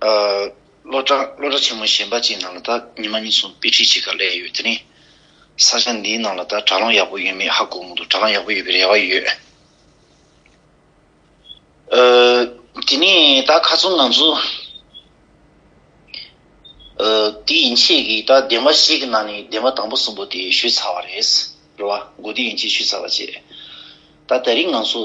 སློབ་གྲྭ་ཆེན་མོ་གཞན་པ་ཅིག་ནང་ལ་ད་ཉི་མ་གཉིས་གསུམ་དཔེ་ཁྲིད་བྱེད་ཀ་གླས་ཡོད་དེ་རིང་ས་ཆ་འདིའི་ནང་ལ་ད་དྲ་ལམ་ཡག་པོ་ཡོད་མེད་ཧ་གོ་མོ་འདུག་དྲ་ལམ་ཡག་པོ་ཡོད་པའི་རེ་བ་ཡོད། དེ་ནས་ད་ཁ་ཚོན་ང་ཚོ་དེ་ཡིན་ཆད་ཀྱི་ད་བདེན་པ་ཞིག་གི་ནང་ནས་བདེན་པ་དང་པོ་གསུམ་པོ་དེ་ཞུས་ཚར་བ་རེད། རེ་བ་མགོ་བདེ་ཡིན་ཆད་ཞུས་ཚར་བ་བཅས་ད་ད་རིང་ང་ཚོ།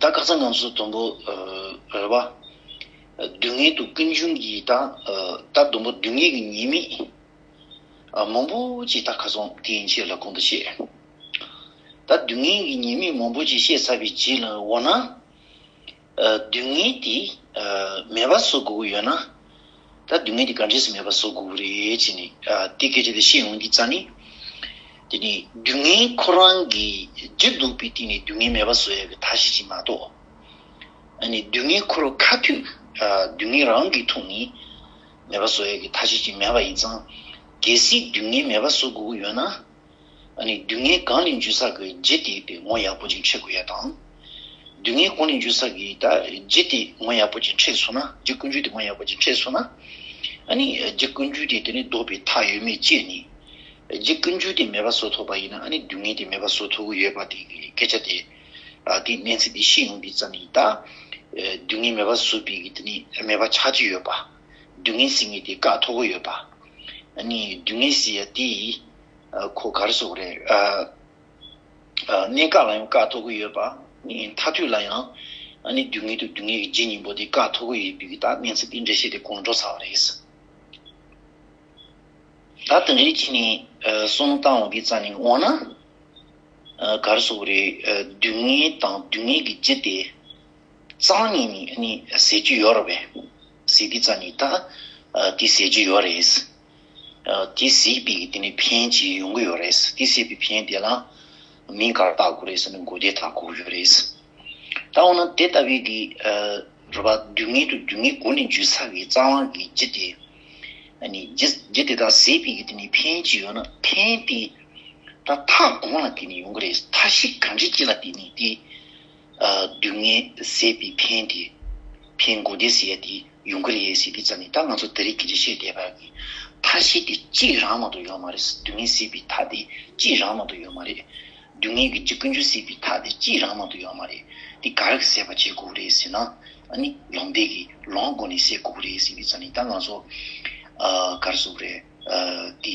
ད་སྐག་ཚ་ངང་སོ་དུམ་བུ་རེ་བ། སྡུག་བསྔལ་དུག་ཀུན་འབྱུང་གི་ད་ད་དུམ་བུ་སྡུག་བསྔལ་གྱི་ཉེས་དམིགས་མང་པོ་ཅིག་ད་ག་སོང་དེ་ཡིན་ཕྱིར་ལ་གོང་དུ་བཤད། ད་སྡུག་བསྔལ་གྱི་ཉེས་དམིགས་མང་པོ་ཅིག་བཤད་ཚར་བའི་རྗེས་ལ་འོ་ན། སྡུག་བསྔལ་དེ་མེད་པ་བཟོ་དགོས་ཀྱི་ཡོད་ན། ད་སྡུག་བསྔལ་གྱི་དགའ་འབྲས་སུ་མེད་པ་བཟོ་དགོས་རེད་ཅེས་ནས་དེ་སྐད་ཅེས་པའི་ཤེས་ཡོང་གི་རྩ་ནི། དེ་ནི་སྡུག་བསྔལ་ཁོ་རང་གིས་བརྗེད་འདུག་པའི་སྟེང་ནས་སྡུག་བསྔལ་མེད་པ་བཟོ་ཡ་བའི་ཐ་ཤལ་ཅིག་མ་གཏོགས། ནི་སྡུག་བསྔལ་ཁོ་རུ་ཁ་མཐུད་སྡུག་བསྔལ་རང་གིས་ཐུག་ནས་མེད་པ་བཟོ་ཡ་གི་ཐ་ཤལ་ཅིག་མེད་པ་ཡིན་ཙང། གལ་སྲིད་སྡུག་བསྔལ་མེད་པ་བཟོ་དགོས་ཀྱི་ཡོད་ན། སྡུག་བསྔལ་གང་ལས་འཇུ་ས་གི་རྗེས་དེད་པའི་ངོ་ཡག་པོ་ཅིག་འཕྲད་དགོས་ཡ་དང། སྡུག་བསྔལ་གང་ལས་འཇུ་ས་གི་རྗེས་དེད་ངོ་ཡག་པོ་ཅིག་འཕྲད་སོང་ན་རྗེ་ཀུན་འཇུག་དེད་ངོ་ཡག་པོ་ཅིག་འཕྲད་སོང་ན། རྗེ་ཀུན་འཇུག་དེད་དེ་ནི་ལྡོག་པའི་མཐའ་ཡོད་མེད་དཔྱད་ནས། རྗེ་ཀུན་འཇུག་དེད་མེད་པ་བཟོ་ཐུབ་པ་ཡིན་ན་སྡུག་བསྔལ་དེད་མེད་པ་བཟོ་ཐུབ་གི་ཡོད་པ་དེ་སྐད་ཆ་དེ་དེ་གནས་ཚད་དེ་ཤེས་ཡོང་དུས་ཙམ་ཡིན་ད། སྡུག་བསྔལ་མེད་པ་བཟོ་པའི་གི་དེ་ནི་མེད་པ་ཆགས་ཀྱི་ཡོད་པ། སྡུག་བསྔལ་ཟེར་ངེས་དེ་བཀག་ཐུབ་གི་ཡོད་པ། སྡུག་བསྔལ་ཟེར་ཡ་དེ་ཡིས་གོ་སྐར་སོགས་རེད། གནས་བཀག་ལ་ཡང་བཀག་ཐོག་གི་ཡོད་པ། མཐའ་དུས་ལ་ཡང་དུས་ངེས་དང་དུས་ངེས་ཀྱི་རྗེས་སྙིང་པོ་དེ་བཀག་ཐོག་གི་ཡོད་པའི་ཐག་གནས་ཚུལ་འདི་འགྲེལ་བཤད་དེ་གོང་འགྲོ་ཚར་བ་རེད། ད་དེ་འདྲའི་གཅིག་ནས་གསུམ་བཏང་བ་འདི་རྩ་ནས་འོང་ན། སྐར་སོགས་རེད། དུས་ངེས་དང་དུས་ངེས་ཀྱི་རྗེས་དེ་རྩ་ངེས་ནས་ཟེར་གྱི་ཡོད་རེད། ཟེར་དུས་རྩ་ནས་ད་དེ་ཟེར་གྱི་ཡོད་རེད། དེ་གཟིགས་པས་དེ་ནས་ཕན་བྱེད་ཡོང་གི་ཡོད་རེད། དེ་གཟིགས་པའི་ཕན་དེ་ལ་མིང་ག་རེ་བཏགས་དགོས་རེད་ཟེར་ན་མགོ་བདེ་དག་གོ་གི་ཡོད་རེད། ད་འོ་ན་དེ་ལྟ་བུའི་གི་རེད་པ་དུས་ངན་དུ་དུས་ངན་གོ་ནས་འཇུས་ཚར་བའི་རྩ་དབང་གི་རྒྱུ་དེ། རྒྱུ་དེ་དག་གཟིགས་པས་དེ་ནས་ཕན་བྱེད་ཡོང་ན་ཕན་དེ་ད་མཐའ་གང་ལ་དེ་ནས་ཡོང་གི་རེད་མཐའ་གཞི་གང་ཅིའི་ལ་དེ་ནས་དེ། སྡུག་བསྔལ་ཟད་པའི་ཕན་དེ། ཕན་དགུ་དེ་ཟད་དེ་ཡོང་གི་རེད་ཟེར་དུས་ཙམ་ནས་ད་ང་ཚོ་འདི་རིགས་ཀྱི་རེ་ཤིག་བསྡད་པ་ཡིན། མཐའ་ཤེས་དེ་གཅིག་རང་མ་གཏོགས་ཡོད་མ་རེད་སྡུག་བསྔལ་ཟད་པའི་མཐའ་དེ་གཅིག་རང་མ་གཏོགས་ཡོད་མ་རེད། སྡུག་བསྔལ་གྱི་འཇིགས་ཀུན་ཆུ་ཟད་པའི་མཐའ་དེ་གཅིག་རང་མ་གཏོགས་ཡོད་མ་རེད། དེ་ག་རེ་ཟད་པ་བྱེད་དགོས་རེད་ཟེར་ན། ཨ་ནི་ལོང་བཟླས་ཀྱིས་ལོང་སྒོ་ནས་ཟད་དགོས་རེད་ཟེར་དུས་ཙམ་ནས་ད་ང་ཚོ་ག་རེ་བཟོ་གི་རེད། དེ།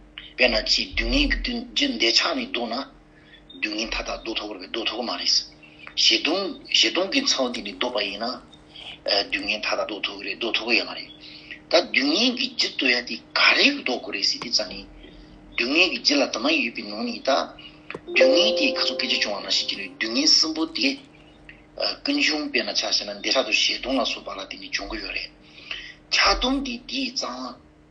དཔེར་ན་ཅིའི་སྡུག་བསྔལ་གྱི་བདུད་རྒྱུ་འདས་ཆགས་མི་སྡུག་ན། སྡུག་བསྔལ་མཐའ་དག་བཟློག་ཐུབ་བོར་བའི་བཟློག་ཐོགས་མ་རེད། བཞེད་སྡུག་བཞེད་སྡུག་གི་ཚོགས་འདི་ནི་བཟློག་པ་ཡིན་ན། སྡུག་བསྔལ་མཐའ་དག་བཟློག་ཐུབ་རེད་བཟློག་ཐུབ་པོ་ཡོད་མ་རེད། ད་སྡུག་བསྔལ་གྱི་རྒྱུ་བཟློག་ཡ་དེ་ག་རེ་བཟློག་དགོས་རེད་ཟེར་དུས་ཙང་ནི། སྡུག་བསྔལ་གྱི་རྒྱུ་ལ་དྭངས་མ་ཡོད་པའི་ནང་ནས་ད། སྡུག་བསྔལ་དེས་ག་ཚོད་སྐད་ཆ་བྱུང་བ་མ་ཤེས་ཀྱི་ལུས་སྡུག་བསྔལ་གསུམ་པོ་དེ། ཀུན་འབྱུང་དཔེར་ན་ཆགས་ཞེ་ན་འདས་ཧྲག་ཏུ་བཞེད་སྡུག་ལ་སོགས་པ་ལ་དེ་ནི་འབྱུང་གི་ཡོད་རེད། ཆགས་སྡུག་འདི་དེས་ཙང།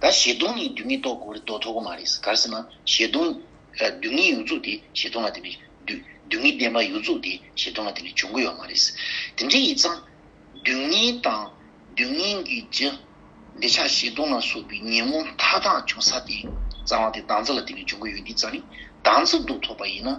ག་བཞེད་སྟོང་ནི་རྡུལ་སྙེད་རྟོགས་དགོས་དོགས་ཐོག་མ་རེད་གར་སེ་ན་བཞེད་སྟོང། རྡུལ་སྙེད་ཡུལ་རྫོགས་དེ་བཞེད་སྟོང་ལ་དེ་བས། རྡུལ་སྙེད་བདེན་པ་ཡུལ་རྫོགས་དེ་བཞེད་སྟོང་ལ་དེ་བས་འབྱུང་གི་ཡོད་མ་རེད། དེ་འདྲའི་ཡིག་ཚང། རྡུལ་སྙེད་དང། རྡུལ་སྙེད་ཀྱི་རྒྱུ། འདི་ཆ་བཞེད་སྟོང་ལ་སོགས་པའི་ཉིན་མོ་མཐའ་དག་འབྱུང་ས་དེ། གཙང་བ་དེ་གདངས་རྩི་ལ་དེ་བས་འབྱུང་གི་ཡོད་འདི་ཙམ་ནི་གདངས་རྩི་དུག་ཐོགས་པ་ཡིན་ན།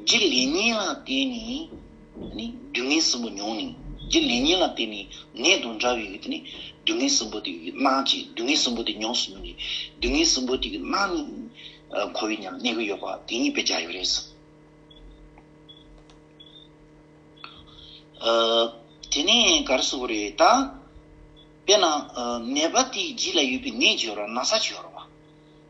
རྒྱུ་ལས་ཉིད་ལ་བརྟེན་ནས་སྡུག་བསྔལ་གསུམ་པོ་མྱོང་ནས། རྒྱུ་ལས་ཉིད་ལ་བརྟེན་ནས་ནད་དང་འདྲ་བའི་སྡུག་བསྔལ་གསུམ་པོ་དེ་སྣང་བཅས་སྡུག་བསྔལ་གསུམ་པོ་དེ་མྱོང་སོང་ནས། སྡུག་བསྔལ་གསུམ་པོ་དེ་སྣང་ནས་འཁོར་བའི་གནས་ཀུན་ཡོད་པ་དེ་ཉིད་པའི་རྒྱ་ཡོད་རེད་ཟེར། དེ་ནས་ག་རེ་གསུང་གི་རེད་ད། དཔེར་ན་ནད་པ་དེའི་རྗེས་ལ་ཡོད་པའི་ནད་བྱོ་ར་ན་ས་བྱོ་ར་བ།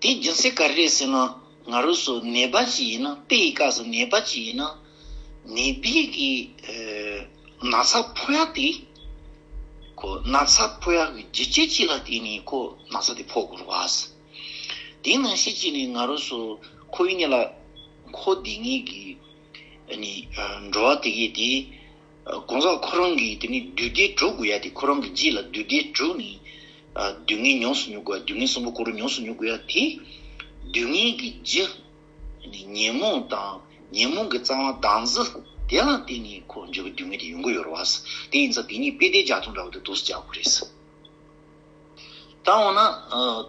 དེའི་རྒྱུ་མཚན་ག་རེད་ཟེར་ན་ང་རོས་སུ་ནད་པ་ཅིག་ཡིན་ན་དཔེ་ཡི་སྐབས་སུ་ནད་པ་ཅིག་ཡིན་ན་ནད་པའི་གི་ན་ཚ་ཕོག་ཡ་དེ་ཁོ་ན་ཚ་ཕོག་ཡ་གི་རྒྱུ་རྐྱེན་ཅིག་ལ་བརྟེན་ནས་ཁོ་ན་ཚ་དེ་ཕོག་དགོས་རུ་བ་སི་དེ་ནང་བཞིན་ཅིག་ནས་ང་རོས་སུ་ཁོའི་གཉིས་ལ་ཁོ་དེ་གཉིས་གི་ནི་འགྲོ་བ་དེ་གི་དེ་གང་ཟག་ཁོ་རང་གིས་དེ་ནས་བདུད་སྡེ་དྲུག་དགོས་ཡ་དེ་ཁོ་རང་གི་རྗེས་ལ་བདུད་སྡེ་དྲུག་ནི། བདུད་ལྔས་ཉོགས་སུ་ཉོ་དགོས་ཡ་བདུད་ལྔས་གསུམ་པོ་ཁོ་རང་ཉོགས་སུ་ཉོ་དགོས་ཡ་དེ། བདུད་ལྔས་ཀྱི་རྗེ། ཉོན་མོངས་དང་ཉོན་མོངས་ཀྱི་རྩ་བ་དྭངས་བཟི་དེ་ལ་བརྟེན་ནས་ཁོ་རང་འཇུག་པའི་བདུད་ལྔ་དེ་ཡོང་གི་ཡོད་རེད་བ། དེ་ཡིན་ཙང་དེ་གཉིས་དཔེ་ལྟའི་རྒྱ་མཚོ་འདྲ་བོ་དེ་དུག་སུ་རྒྱག་དགོས་རེད། ད་འོ་ན།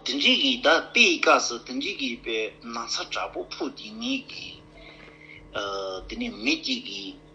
དེ་འབྲེལ་གྱིས་ད་དཔེ་ཡི་སྐབས་སུ་དེ་འབྲེལ་གྱིས་དཔེ་ན་ཚ་དྲག་པོ་ཕུག་དེ་གཉིས་ཀྱིས། དེ་ནས་མི་གཅིག་གིས།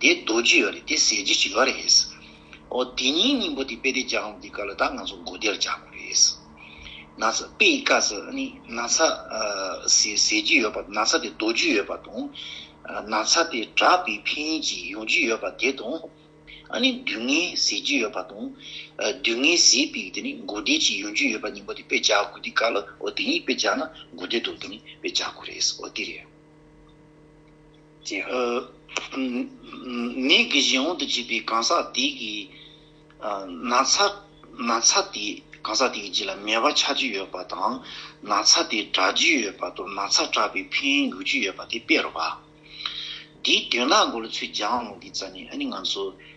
དེ་རྡོ་རྗེ་ཡོད་རེད་དེ་ཟས་རྗེས་ཀྱི་ཡོད་རེད། ཨོ་དེ་གཉིས་སྙིང་པོ་དེ་དཔེ་དེ་སྦྱང་དགོས་དུས་ག་ལ་ད་ང་ཚོ་མགོ་བདེར་རྒྱག་དགོས་རེད། ན་ཚ་དཔེ་ཡི་བཀའ་ཟེར་ཨ་ནི་ན་ཚ་དེ་ཟས་རྗེས་ཡོད་པ་ན་ཚ་དེ་རྡོ་རྗེས་ཡོད་པ་དང། ན་ཚ་དེ་གྲགས་པའི་འཕེན་ཡུལ་གྱིས་ཡོང་རྒྱུ་ཡོད་པ་དེ་དང། ཨ་ནི་དུས་ངན་ཟས་རྗེས་ཡོད་པ་དང། དུས་ངན་ཟས་དཔེ་དེ་ནི་མགོ་བདེ་གྱིས་ཡོང་རྒྱུ་ཡོད་པ་སྙིང་པོ་དེ་དཔེ་སྦྱར་དགོས་དུས་ག་ལ་ཨོ་དེ་གཉིས་དཔེ་སྦྱར་ན་མགོ་བདེ་འདུག་དེ་ནི་དཔེ་སྦྱར་དགོས་རེད་ཨོ་དེ་རེད། ཀྱི། ནད་ཀྱི་གཞན་དབང་དུ་བྱས་པའི་གང་ཟག་དེ་གི། ན་ཚ་དེ་གང་ཟག་དེ་གི་རྗེས་ལ་མེ་བ་ཆགས་ཀྱི་ཡོད་པ་དང། ན་ཚ་དེ་དྲག་ཀྱི་ཡོད་པ་དང་ན་ཚ་དྲག་པའི་ཕན་ཡོད་ཀྱི་ཡོད་པ་དེ་དཔེར་རོ། དེའི་དོན་ལ་འགོ་ལ་ཚུལ་སྦྱང་གི་རྩ་ནས་ཨ་ནི་ང་ཚོ།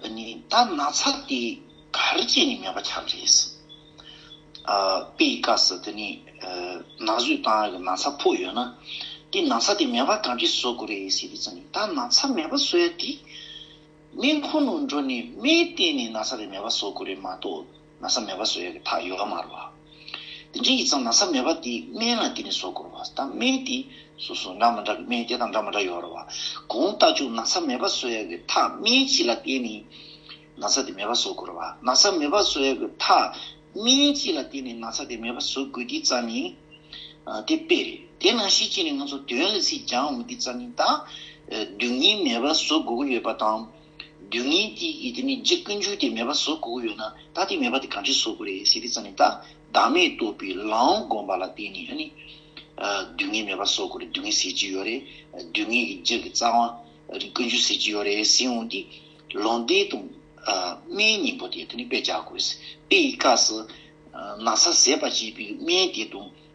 འདི་ནི་ད་ན་ཚ་དེ་གར་བྱས་ནས་མེད་པ་ཆགས་རེད། དཔེའི་སྐབས་སུ་འདི་ནི་ན་ཟུག་དང་གི་ན་ཚ་ཕོག་ཡོད་ན། དེ་ན་ཚ་དེ་མེད་པ་གང་གིས་བཟོ་དགོས་རེད་ཟེར་དུས་སུ་ནི་ད་ན་ཚ་མེད་པ་བཟོ་ཡ་དེ། སྨན་ཁང་ནང་འགྲོ་ནས་སྨན་བསྟེན་ནས་ན་ཚ་དེ་མེད་པ་བཟོ་དགོས་རེད་མ་གཏོགས། ན་ཚ་མེད་པ་བཟོ་ཡ་གི་ཐག་ཡོ་ག་མ་རུ་བ། དེ་འདྲའི་ཡིད་ཚང་ན་ཚ་མེད་པ་དེའི་སྨན་ལ་དེ་ནས་བཟོ་དགོས་རུ་བ་ད་སྨན་དེ་སོ་སོ་འདྲ་མ་འདྲ་གི་སྨན་དེ་དང་འདྲ་མ་འདྲ་ཡོ་རུ་བ། གོང་ལྟ་བཅུག་ན་ཚ་མེད་པ་བཟོ་ཡ་གི་ཐག་སྨན་གཅིག་ལ་བརྟེན་ནས་ན་ཚ་དེ་མེད་པ་བཟོ་དགོས་རུ་བ་ན་ཚ་མེད་པ་བཟོ་ཡ་གི་ཐག་སྨན་གཅིག་ལ་བརྟེན་ནས་ན་ཚ་དེ་མེད་པ་བཟོ་དགོས་དེའི་རྩ་ནི་དེ་དཔེ་རེད་དེ་ནང་བཞིན་གཅིག་ནས་ང་ཚོ་དོན་ལ་ཚིག་རྒྱང་འོང་བ་དེའི་རྩ་ནི་ད་དུས་ངན་མེད་པ་བཟོ་དགོས་ཀི་ཡོད་པ་དང། སྡུག་བསྔལ་དེ་ཡི་དེ་ནི་འཇིག་ཀུན་འབྱུང་དེ་མེད་པ་བཟོ་དགོས་ཀྱི་ཡོད་ན་ད་དེ་མེད་པ་དེ་གང་ཆེ་བཟོ་དགོས་རེད་ཟེར་དུས་ཙམ་ནས་ད་བདག་མེད་རྟོགས་པའི་ལམ་སྒོམ་པ་ལ་བརྟེན་ནས་ནི། སྡུག་བསྔལ་མེད་པ་བཟོ་དགོས་རེད་སྡུག་བསྔལ་ཟེར་གྱི་ཡོད་རེད་སྡུག་བསྔལ་གྱི་རྒྱུ་གི་རྩ་བ། ཀུན་འབྱུང་ཟེར་གྱི་ཡོད་རེད་ཟེར་འོང་དུས། ལུང་བསྟན་དང། སྨན་སྙིང་པོ་དེ་དེ་ནི་དཔེ་བྱ་དགོས། དཔེ་ཡི་སྐབས་སུ། ན་ཚ་ཟད་པར་བྱེད་པའི་སྨན་དེ་དང།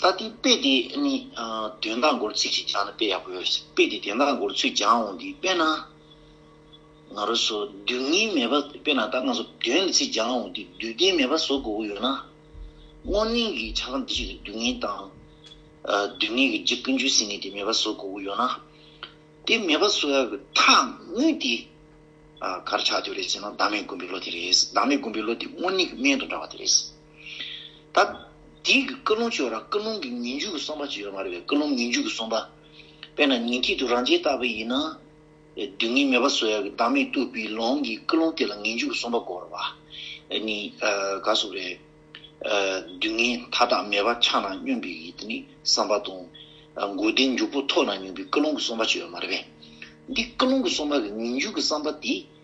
ད་ལྟའི་དཔེ་དེ་ནི་དོན་དག་མགོར་ཚིག་ཅིག་སྦྱངས་ན་དཔེ་ཡག་པོ་ཡོད་རེད། དཔེ་དེ་དོན་དག་མགོར་ཚུད་སྦྱངས་འོང་དུས་དཔེར་ན། ང་རོ་སོ་བདུན་གཉིས་མེད་པ་དཔེར་ན་ད་སྔ་སོ་བདུན་ལ་ཚིག་སྦྱངས་འོང་དུས་བདུད་རྟེན་མེད་པ་བཟོ་དགོས་པོ་ཡོད་ན། སྔོ་སྙིང་གི་ཆ་ལམ་དེ་བཞིན་དུ་སྡུག་བསྔལ་དང། སྡུག་བསྔལ་གྱི་རྗེས་ཀུན་ཆུད་ཟིན་ནས་དེ་མེད་པ་བཟོ་དགོས་པོ་ཡོད་ན། དེ་མེད་པ་བཟོ་ཡག་གི་ཐག་དངུལ་དེ་གར་ཆགས་འདོད་རེད་ཟེར་ན་བདག་མེད་དགོན་པའི་བློ་དེ་རེད། བདག་མེད་དགོན་པའི་བློ་དེ་སྔོ་སྙིང་གི་སྨན་དང་འདྲ་བ་དེ་རེད། ད། དེའི་གི་ཀུན་སློང་ཆོས་ར་ཀུན་སློང་གི་ངེས་འཇུག་གི་གསུངས་པ་ཅིག་ཡོད་མ་རེད་པས་ཀུན་སློང་ངེས་འཇུག་གི་གསུངས་པ། དཔེར་ན་ཉིན་གཅིག་ཏུ་རང་རྗེས་བརྟགས་པས་ཡིན་ན། སྡུག་བསྔལ་མེད་པ་བཟོད་ཡ་གི་བདག་མེད་བཏུབ་པའི་ལོང་གི་ཀུན་སློང་དེ་ལ་ངེས་འཇུག་གི་གསུངས་པ་གོ་རེད་པ། འདི་ནི་ག་སུ་རེད། སྡུག་བསྔལ་མཐའ་དག་མེད་པ་ཆགས་ན་སྨྱོན་པའི་གི་དེ་ནི་བསམ་པ་དང། མགོ་བདེ་མགྱོགས་པོ་ཐོགས་ན་སྨྱོན་པའི་ཀུན་སློང་གི་གསུངས་པ་ཅིག་ཡོད་མ་རེད་པས། འདི་ཀུན་སློང་གི་གསུངས་པ་གི་ངེས་འཇུག་གི་བསམ་པ་དེ།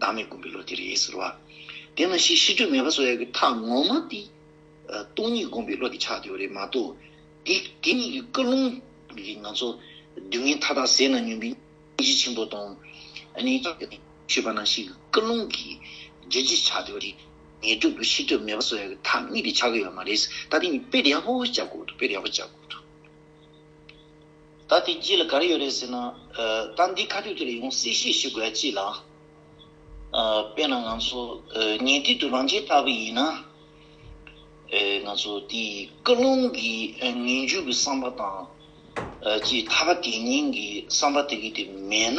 བདག་མེད་བསྒོམ་པའི་བློ་དེ་རེད་ཟེར་བ། དེས་ན་ཤི་ཤི་སྤྲོས་མེད་པ་སོགས་ཡང་གི་མཐའ་ངོ་མ་དེ། སྟོང་ཉིད་བསྒོམ་པའི་བློ་དེ་ཆགས་ཡོད་རེད་མ་གཏོགས། དེ་དེ་གཉིས་ཀྱི་བཀའ་ལུང་གིས་ང་ཚོ་སྡུག་བསྔལ་མཐའ་དག་ཟད་ན་སྨྱོན་པའི་སྙིང་རྗེ་ཆེན་པོ་དང། ནི། ཞེས་པ་ནང་བཞིན་གྱི་བཀའ་ལུང་གིས་རྗེས་འཇུག་ཆགས་ཡོད་རེད། ངེས་སྒྲུབ་ཏུ་ཤི་སྤྲོས་མེད་པ་སོགས་ཡང་གི་མཐའ་གཉིས་དེ་ཆགས་ཀྱི་ཡོད་མ་རེད། ད་དེ་གཉིས་དཔེ་ཡག་པོ་བཅའ་དགོས་འདུག་དཔེ་ཡག་པོ་བཅའ་དགོས་འདུག། ད་དེ་དཀྱིལ་ལ་ག་རེ་ཡོད་རེད་ཟེར་ན། ད་འདི་ཁ་སྤྲོད་དེ་ལ་ཡོང་སྲིད་ཤེས་ཞུ་དགོས་ཡ་ཅི་ལགས། དཔེར་ན་ང་ཚོ་ཉེ་དུས་དུ་རང་རྒྱལ་ལྟ་བུ་ཡིན་ན། ང་ཚོ་དེ་སྐུ་རླུང་གི་ངན་བྱུས་ཀྱི་བསམ་པ་དང། ཅེས་མཐའ་ཁ་དེ་ཉིན་གྱི་བསམ་པ་དེ་གི་དེ་མེད་ན།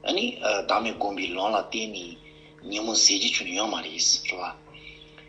ཨ་ནི་བདག་མེད་སྒོམ་པའི་ལུང་ལ་བརྟེན་ནས་ཉིན་མོ་ཟས་ཀྱི་ཆུ་ཡོད་མ་རེད།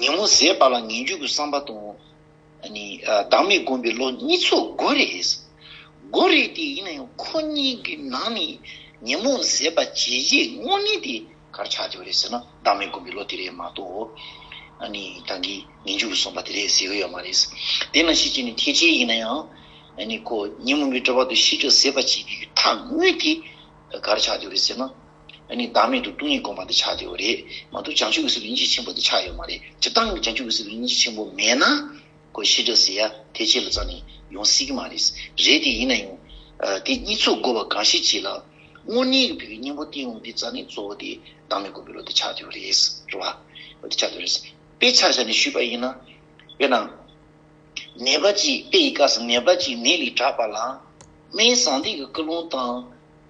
ཉིན་མོ་ཟད་པ་ལ་ངན་སྐྱུགས་ཀྱི་བསམ་པ་དང། བདག་མེད་སྒོམ་པའི་བློ་གཉིས་ཚོགས་དགོས་རེད། དགོས་རེད་དེ་ཡིན་ན་ཡང་ཁོ་གཉིས་ཀྱི་ནང་ནས་ཉིན་མོ་ཟད་པ་བྱས་རྗེས་དངོས་གནས་དེ་གར་ཆགས་ཀྱི་རེད་ཟེར་ན་བདག་མེད་སྒོམ་པའི་བློ་དེ་རེད་མ་གཏོགས། ད་གིན་ངན་སྐྱུགས་ཀྱི་བསམ་པ་དེ་རེད་ཟེར་གི་ཡོད་མ་རེད། དེ་ན་ཤེས་བྱེད་ནི་ཐེག་ཆེན་ཡིན་ན་ཡང། ཁོ་ཉིན་མོ་མི་སྤྲོ་བ་དང་ཤི་ཁྲག་ཟད་པ་བྱེད་རྒྱུའི་ཐག་དངོས་དེ་གར་ཆགས་ཀྱི་རེད་ཟེར་ན། ཨ་ནི་བདག་མེད་དུ་སྟོང་ཉིད་བསྒོམ་པ་འདི་ཆགས་བདེ་བ་རེད་མ་གཏོགས་བྱང་ཆུབ་ཀྱི་སེམས་ལ་སྙིང་རྗེ་ཆེན་པོ་འདི་ཆགས་ཡོད་མ་རེད་སྤྱིར་བཏང་བྱང་ཆུབ་ཀྱི་སེམས་ལ་སྙིང་རྗེ་ཆེན་པོ་མེད་ན། ཁོས་ཤི་དྲག་ཟེར་ཡ་དེ་ཁྱེད་ལ་རྩ་ནས་ཡོང་སྲིད་ཀྱི་མ་རེད། རེད་དེ་ཡིན་ན་ཡང། དེ་གཉིས་ཚོགས་དགོས་པ་གང་ཞིག་བྱས་ལ། དངོས་གནས་ཀྱི་བོད་ཀྱི་སྙིང་པོ་བསྟན་འོང་འདི་རྩ་ནས་གཙོ་བོ་དེ་བདག་མེད་བསྒོམ་པའི་བློ་འདི་ཆགས་བདེ་བ་རེད། རེད་བ། འདི་ཆགས་བདེ་བ་རེད། དཔེ་ཆ་བཞག་ནས་ཞུས་པ་ཡིན་ན། དཔེར་ན། ནད་པ་ཅིག་དཔེ་ཡི་སྐབས་སུ་ནད་པ་ཅིག་ནད་ལས་དྲག་པ་ལ། སྨན་བཟང་སྡིག་གི་སྐུལ་སློང་བཏང།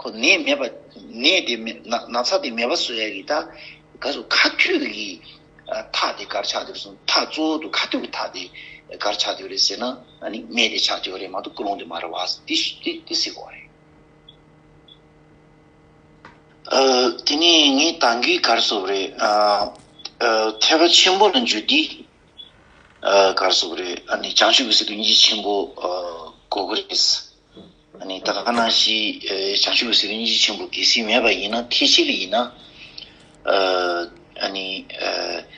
ཁོ་ནད་མེད་པ། ནད་དེ་མེད་ན་ན་ཚ་དེ་མེད་པ་བཟོ་ཡ་གི་ད། ག་སུ་ཁ་ཐུག་གི་ཐག་དེ་གར་ཆགས་འདོད་རེད་སོང་ཐག་གཙོ་བོ་དུ་ཁ་ཐུག་གི་ཐག་དེ་གར་ཆགས་འདོད་རེད་ཟེར་ན་ཨ་ནི་སྨྲས་དེ་ཆགས་འདོད་རེད་མ་གཏོགས་ཀུན་སློང་དེ་མ་རེད་བ་ཟེར་ཏི་ཤི་ཏི་ཏི་ཟེར་གོ་རེད། དེ་ནས་ངའི་དང་གི་གར་སོབ་རེད། ཐེག་པ་ཆེན་པོ་ལ་འཇུ་དི་གར་སོབ་རེད་ཨ་ནི་བྱང་ཆུབ་ཀྱི་སེམས་དུ་གཉིས་ཆེན་པོ་གོ་གི་རེད། ད་ལྟ་ཁ་ན་ཤི་བྱང་ཆུབ་སེམས་དཔའ་སྙིང་རྗེ་ཆེན་པོ་དགེ་སེམས་མེད་པ་ཡིན་ན་ཐེག་ཆེ་ལ་ཡིན་ན།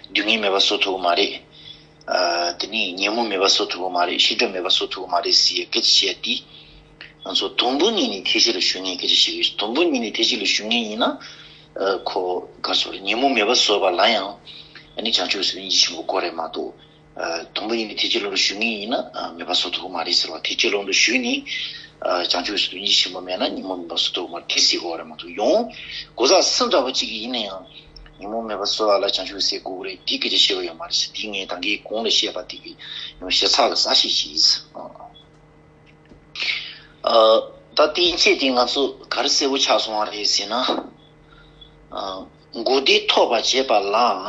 སྡུག་བསྔལ་མེད་པ་བཟོ་ཐུབ་ཀྱི་མ་རེད། དེ་ནས་ཉིན་མོ་མེད་པ་བཟོ་ཐུབ་ཀྱི་མ་རེད་ཤིང་སྒྲོམ་མེད་པ་བཟོ་ཐུབ་ཀྱི་མ་རེད་ཟེར་སྐད་ཆ་བཤད་ཡ་དེས། ང་ཚོ་དུམ་བུ་གཉིས་ནས་ཐེག་ཆེ་ལ་ཞུགས་ངེས་སྐད་ཆ་བཤད་ཀྱི་དུམ་བུ་གཉིས་ནས་ཐེག་ཆེ་ལ་ཞུགས་ངེས་ཡིན་ན། ཁོ་གར་བཟོ་རེད་ཉིན་མོ་མེད་པ་བཟོ་བ་ལ་ཡང་བྱང་ཆུབ་སེམས་དཔའ་སྙིང་རྗེ་ཆེན་པོ་དགོས་རེད་མ་གཏོགས། དང་པོ་གཉིས་ནི་ཐེག་ཆེན་ཀློང་དུ་ཞུགས་ངེས་ཡིན་ན་མེད་པ་སོགས་དོགས་མ་རེད་ཟེར་བ་ཐེག་ཆེན་ཀློང་དུ་ཞུགས་ནས་བྱང་ཆུབ་སེམས་དཔའི་འདུ་འཛི་ཆེན་པོ་མེད་ན་ཉིན་མོ་མིན་པ་སོགས་དོགས་མ་རེད་ཟེར་གོ་རེད་མ་གཏོགས་ཡོང་སྒོ་ཟག་ཟིང་འདྲ་བོ་གཅིག་གིས་ཡིན་ན་ཡང་ཉིན་མོ་མེད་པ་སོགས་ལ་བྱང་ཆུབ་ཟེར་དགོས་རེད་འདི་སྐད་ཆ་བཤད་པ་ཡོད་མ་རེད་འདི་ངས་དང་གིས་གོང་ལ་བཤད་པ་དེ་ཡང་ཞེ་ཚགས་ལ་གཟའ་ཞིག་བྱས། ད་བསྟན་བྱས་དེ་ང་ཚོ་ག་རེ་གསལ་པོ་ཆགས་སོང་བ་རེད་ཟེར་ན། མགོ་བདེ་ཐོག་པ་བྱས་པ་ལའང།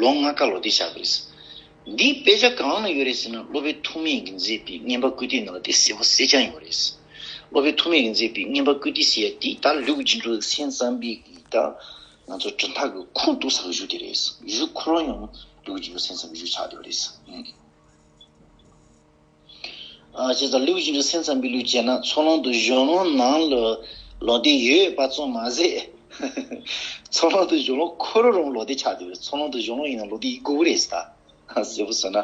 ལོ་ལྔ་ཀ་ལོ་དེ་བཞག་གི་རེད། འདིའི་དཔེ་ཆ་གང་ན་ཡོད་རེད་ཟེར་ན་སློབ་དཔོན་ཐུགས་མེད་ཀྱིས་མཛད་པའི་བསྙེན་པ་བཀུར་སྟི་ནང་ལ་དེ་གསལ་བོ་གསལ་རྐྱང་ཡོད་རེད། སློབ་དཔོན་ཐུགས་མེད་ཀྱིས་མཛད་པའི་བསྙེན་པ་བཀུར་སྟི་ཟེར་ཡ་དེ་ད་ལུགས་རྗེ་འབྲུག་གསེང་གཙང་པས་ཀྱི་ད་ང་ཚོ་དྲུང་ཐག་གི་ཁུག་རྟུག་ཟ་གི་བཞུགས་དེ་རེད་བཞུགས་ཁོ་རང་ཡང་ལུགས་རྗེ་འབྲུག་གསེང་ཙམ་པའི་བཞུགས་ཆགས་དེ་བ་རེད། ཞེས་སོགས་ལེའུ་བཞི་རུ་སེམས་ཙམ་པའི་ལུས་བྱས་ན་ཚོགས་ལོང་དུ་གཞོན་ལོང་ནང་ལོ་ལོག་ལྡན་ཡོད་པ་ཙམ་མ་ཟད། ཚོགས་ལོང་དུ་གཞོན་ལོང་འཁོར་རོ་རུང་ལོག་ལྡན་ཆགས་འདུག་པས་ཚོགས་ལོང་དུ་གཞོན་ལོང་ཡིན་ན་ལོག་ལྡན་ཡིན་དགོས་པ་རེད་ཟེར། ཟེར་བུ་ཟོས་ན།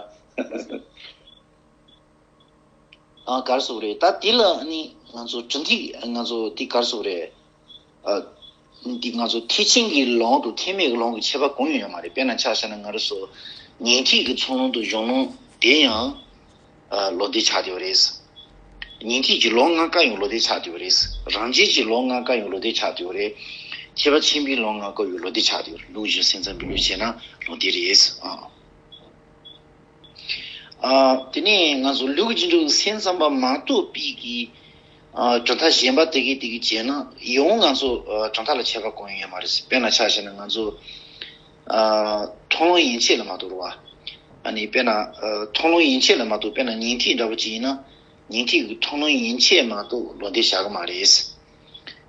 གར་སོགས་རེད། ད་དེ་ལ་ནི་ང་ཚོ་གྲུ་འདེགས་ང་ཚོ་དེ་གར་སོགས་རེད། འདི་ང་ཚོ་ཐེག་ཆེན་གྱི་ལུང་དུ་ཐེག་མེད་ཀྱི་ལུང་གི་ཁྱད་པར་གང་ཡང་ཡོད་མ་རེད་དཔེར་ན་ཕྱག་བྱ་ན་ང་རེ་སོ། ཉིན་ཐིག་གི་ཚོགས་ལུང་དུ་གཞུང་ལུང་དེ་ཡང་ལོ་ཟླའི་ཆ་དེ་བ་རེད། ཉིན་ཐིག་གི་ལོ་ལྔ་བཀའ་ཡང་ལོ་ཟླའི་ཆ་དེ་བ་རེད། རང་རྒྱལ་གྱི་ལོ་ལྔ་བཀའ་ཡང་ལོ་ཟླའི་ཆ་དེ་བ་རེད། ཁྱད་པར་ཆེན་པོའི་ལོ་ལྔ་བཀའ་ཡང་ལོ་ཟླའི་ཆ་དེ་བ་རེད་ལུགས་བཞིན་སེམས་ཙམ་པའི་ལུགས་བྱས་ན་ལོ་ཟླའི་རེད། དེ་ནས་ང་ཚོ་ལུགས་ཀྱི་འགྲོ་བའི་སེམས་ཙམ་པ་མ་གཏོགས་པའི་གི། གྲུབ་མཐའ་གཞན་པ་དེ་གས་དེ་གས་བྱས་ན་ཡང་ང་ཚོ་གྲུབ་མཐའ་ལ་ཆད་པ་གང་ཡང་ཡོད་མ་རེད་དཔེར་ན་ཆ་བྱས་ན་ང་ཚོ་མཐོང་ལུང་ཡིན་ཆད་ལ་མ་གཏོགས་རེད་བ། ཨ་ནི་དཔེར་ན་མཐོང་ལུང་ཡིན་ཆད་ལ་མ་གཏོགས་དཔེར་ན་ཉིང་ཐིག་འདྲ་པོ་ཅིག་ཡིན་ན་ཉིང་ཐིག་མཐོང་ལུང་ཡིན་ཆད་མ་གཏོགས་ལོ་འདེབས་བྱ་གི་མ་རེད།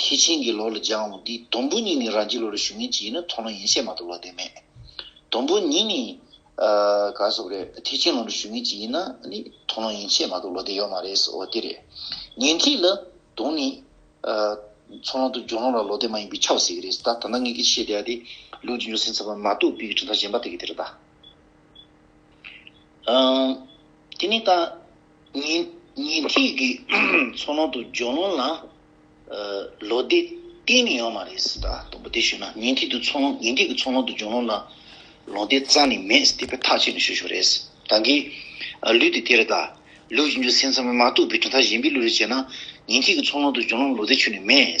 ཐེག་ཆེན་གྱི་ལོ་ལ་སྦྱང་འོ་འདི་དུམ་བུ་གཉིས་ནི་རང་གི་ལོ་རུ་ཞུ་ངེས་ཅི་ཡིན་ན་མཐོང་ལོ་ཡིན་ཤེས་མ་གཏོགས་ལོ་དེ་མེད། དུམ་བུ་གཉིས་ནི། ག་སོགས་རེད་ཐེག་ཆེན་ལོ་རུ་ཞུ་ངེས་ཅི་ཡིན་ན་ནི་མཐོང་ལོ་ཡིན་ཤེས་མ་གཏོགས་ལོ་དེ་ཡོད་མ་རེད་ཟེར་འོ་དེ་རེད། ཉན་ཐིག་ལ་དུང་ནི། ཚོགས་ལོང་དུ་འབྱུང་ལོང་ལ་ལོ་དེ་མ་ཡིན་པའི་ཆ་བ་ཟེར་གྱི་རེད་ཟེར་ད་ད་ང་ངེད་ཀྱིས་བཤད་བསྡད་ཡ་དེ་ལུགས་ཀྱི་འབྱུང་སྲིང་ཚན་པ་མ་གཏོགས་དཔེ་ཀྱི་གྲུབ་མཐའ་གཞན་པ་དེ་གི་དེ་རེད་ད། དེ་ནི་ད་ཉིན་ཐིག་གི་མཚོ་ནང་དུ་ཇོ་ནང་ལ་ལོ་ཟླས་བསྟན་ནི་ཡོད་མ་རེད་ཟེར་ད་དང་པོ་དེ་ཞུས་ན་ཉིན་ཐིག་གི་མཚོ་ནང་ཉིན་ཐིག་གི་མཚོ་ནང་དུ་ཇོ་ནང་ལ་ལོ་ཟླས་རྩ་ནི་མེད་ཟེར་དེ་པས་ཐག་བཅད་ནི་ཞུ་ཞུ་རེད་ཟེར་ད་གི་ལུས་དེ་དེ་རེད་ད་ལུས་ཀྱི་འཇུ་སེམས་ཚང་མས་མ་གཏུགས་པའི་གྲུ་མཐའ་གཞན་པའི་ལུས་རེ་བྱས་ན་ཉིན་ཐིག་གི་མཚོ་ནང་དུ་ཇོ་ནང་ལོ་ཟླས་ཆུད་ནི་མེད།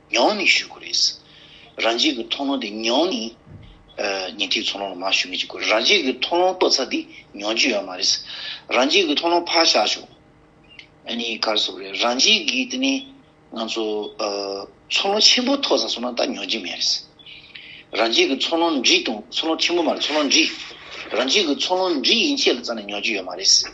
མྱོང་ནི་ཞུ་དགོས་རེད། རང་རྒྱལ་གྱི་མཐོང་སྣང་དེ་མྱོང་ནི། ཉིན་ཐིག་ཚོགས་ལོངས་ལ་མ་ཞུ་མི་བྱེད་དགོས་རང་རྒྱལ་གྱི་མཐོང་ལོང་ཏོག་ཚ་འདི་མྱོང་རྒྱུ་ཡོད་མ་རེད། རང་རྒྱལ་གྱི་མཐོང་ལོང་ཕར་བཞག་ཆོག་ཨ་ནི་གར་བཟོ་རེད་རང་རྒྱལ་གྱི་དེ་ནི། ང་ཚོ། ཚོགས་ལོང་ཆེན་པོ་ཐོག་ས་སོང་ན་ད་མྱོང་རྒྱུ་མེད་རེད། རང་རྒྱལ་གྱི་ཚོགས་ལོང་འབྲི་དང་ཚོགས་ལོང་ཆེན་པོ་མ་རེད་ཚོགས་ལོང་འབྲི། རང་རྒྱལ་གྱི་ཚོགས་ལོང་འབྲི་ཡིན་ཆད་ལ་རྩ་ནས་མྱོང་རྒྱུ་ཡོད་མ་རེད།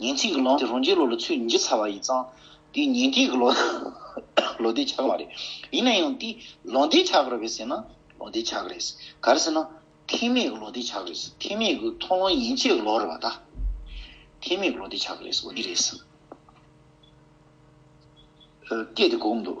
ཉིན་ཚིག་གི་ལོ་དེ་རང་རྒྱལ་ལོ་ལ་ཚོུད་བརྒྱད་ཚར་བ་ཡིན་ཙང། དེའི་ཉིན་དེ་གི་ལོ་ལོ་ཟླའི་ཆག་མ་རེད། ཡིན་ན་ཡང་དེ་ལོ་ཟླའི་ཆག་རེད་བས་ཟེར་ན་ལོ་ཟླའི་ཆག་རེད། ག་རེ་ཟེར་ན། ཐེམ་མེད་གི་ལོ་ཟླའི་ཆག་རེད། ཐེམ་མེད་གི་མཐོང་ལོང་ཡིན་ཆད་གི་ལོ་རེད་བ་ད། ཐེམ་མེད་གི་ལོ་ཟླའི་ཆག་རེད་འོ་འདི་རེད། སྐད་དེ་གོ་གི་འདུག།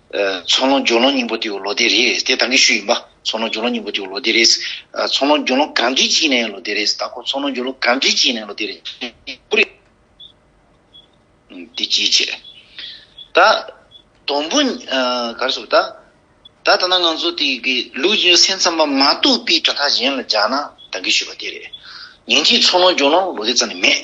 ཚོང་ལོག་འཇོག་ལོང་སྙིང་པོ་ཏེའུ་ལོ་དེ་རེད། དེ་དང་གི་ཤུ་ཡིན་པ། ཚོང་ལོག་འཇོག་ལོང་སྙིང་པོ་ཏེའུ་ལོ་དེ་རེད། ཚོང་ལོག་འཇོག་ལོང་གང་གིས་བྱིན་ནས་ལོ་དེ་རེད། ད་ཁོ་ཚོང་ལོག་འཇོག་ལོང་གང་གིས་བྱིན་ནས་ལོ་དེ་རེད། ཀུ་རེ། དེ་ཅིའི་ཕྱིར། ད། དོམ་བུ། ག་རེ་ཟེར་བ། ད་ད་ནང་ང་ཚོ་དེ་གི་ལུགས་ཀྱི་སེམས་ཙམ་པ་མ་གཏོགས་པའི་དྲ་ཐག་གཞན་ལ་སྦྱར་ན་དང་གི་ཤུ་བ་དེ་རེད། ཉིན་གཅིག་ཚོང་ལོག་འཇོག་ལོང་ལོ་དེ་ཙམ་ནས་མེད།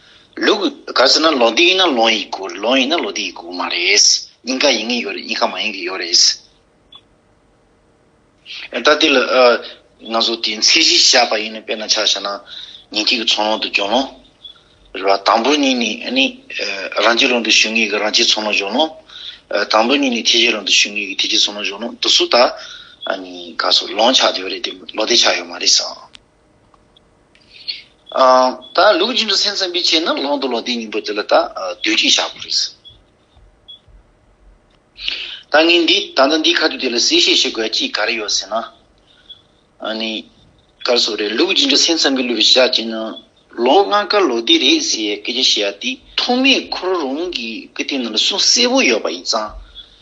ལུགས། ག་ཟེར་ན་ལོ་འདི་ཡིན་ན་ལོང་ཡིན་དགོས་རེད་ལོང་ཡིན་ན་ལོ་འདི་ཡིན་དགོས་མ་རེད། སྙིང་ག་ཡིན་གྱི་ཡོད་རེད་སྙིང་ག་མ་ཡིན་གྱི་ཡོད་རེད། ད་དེ་ལ་ང་ཚོ་དེ་ཚད་གཞི་བཞག་པ་ཡིན་ན་དཔེར་ན་ཆ་བཞག་ན་ཉིང་ཐིག་གི་ཚོང་ལོག་ཏུ་འཇོག་ལོང། རེད་པ། དང་པོ་གཉིས་ནི་ཨ་ནི། རང་སྤྱི་ལོག་ཏུ་ཞུ་ངེས་ཀྱི་རང་སྤྱི་ཚོང་ལོག་འཇོག་ལོང། དང་པོ་གཉིས་ནི་ཐེ་ཇེ་ལོག་ཏུ་ཞུ་ངེས་ཀྱི་ཐེ་ཇེ་ཚོང་ལོག་འཇོག་ལོང་དུ་སུ་དག་ཨ་ནི་ག་སོ་ལོང་ཆགས་ཡོད་རེད་དེ་ལོ་དེ་ཆགས་ཡོད་མ་རེད་ཟེར། ད་ལུགས་རྒྱུན་དུ་སེམས་ཙམ་པའི་ཆེད་ནི་ལོང་དུ་ལོ་ཟླའི་སྙིང་པོ་འདི་ལ་ད་གདོད་གཅིག་བཞག་པར་རིགས་སོ། ད་ངས་འདི་ད་ལྟ་འདིའི་ཁ་ཐུག་དེ་ལ་གསལ་བཤད་བྱེད་དགོས་ཡ་ཅི་ག་རེ་ཡོད་ཟེར་ན། ནི། གར་སོགས་རེད་ལུགས་རྒྱུན་དུ་སེམས་ཙམ་པའི་ལུས་པའི་ཞག་གཅིག་ནི་ལོ་ལྔ་ཀ་ལོ་ཟླའི་རེད་ཟེར་ཡའི་སྐད་ཆ་བཤད་ཡ་དེ་ཐོག་མའི་ཁོ་རང་རང་གི་ཀི་ཏའི་ནང་ལ་གསུང་གསལ་པོ་ཡོད་པ་ཡིན་ཙང།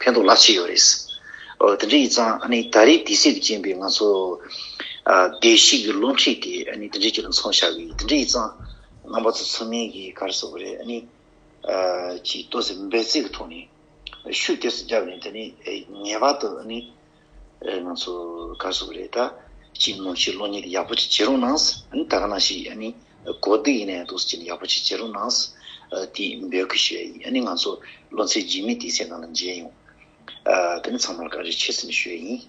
ཕན་ཐོགས་རླག་ཆེ་ཡོད་རེད། དེ་འདྲ་ཡིན་ཙང་ད་རེས་དེ་སྲིད་དུ་བཅིངས་པའི་ང་ཚོ་བདེ་སྐྱིད་ཀྱི་བློ་འཁྲིད་དེ་དེ་འདྲའི་རྒྱུ་ལ་མཚོན་བྱ་གི་དེ་འདྲ་ཡིན་ཙང་ང་པ་ཚོ་ཚང་མས་གི་ག་རེ་ཟེར་བ་རེད་ནི། ཀྱི་ལྟོ་ཟས་འབད་བརྩེགས་ཀྱི་ཐོག་ནས་ཤུགས་གཏེར་སུ་བརྒྱབ་ནས་དེ་ནི་ངེས་པར་དུ་ནི་རེད་ང་ཚོ་དགའ་བསུ་རེད་ད་ཅི་ནོར་ཕྱིར་ལོ་གཉིས་དེ་ཡག་པོ་ཅིག་བྱེད་རོགས་གནང་ཨ་ད་ག་ནང་ཞིག་ཨ་ནི་གོ་བདེ་ཡིན་ནའི་འདུག་ཅིག་ཡག་པོ་ཅིག་བྱེད་རོགས་གནང་དེ་འབོད་སྐུལ་ཞུ་ཡ་ཡིན་ཨ་ནི་ང་ཚོ་ལོ་ཚད་རྗེས་མི་དེ་སེ་ན་ལ་མཇལ་ཡོང་ཨ་ད་ནི་ཚང་མར་ག་རེ་བྱེད་སེམས་ཞུ་ཡ་ཡིན།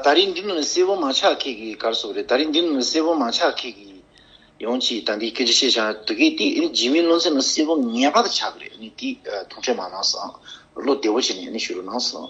ད་རིང་འདི་ནི་སེར་བོ་མང་ཆགས་ཁེག་གི་གར་སོགས་རེད་ད་རིང་འདི་ནི་སེར་བོ་མང་ཆགས་ཁེག་གི་ཡོང་ཅིག་ད་འདི་སྐད་ཅིག་བཤད་བྱ་འདི་གའི་དེ་རྗེས་མའི་བློ་འཚེ་ནི་སེར་བོ་ངན་པ་དང་ཆགས་གི་རེད་ནི་དེ་ཐུག་འཕྲད་མ་གནང་སང་བློ་བདེ་བོ་བྱས་ནས་ནི་ཞུ་རུ་གནང་སང།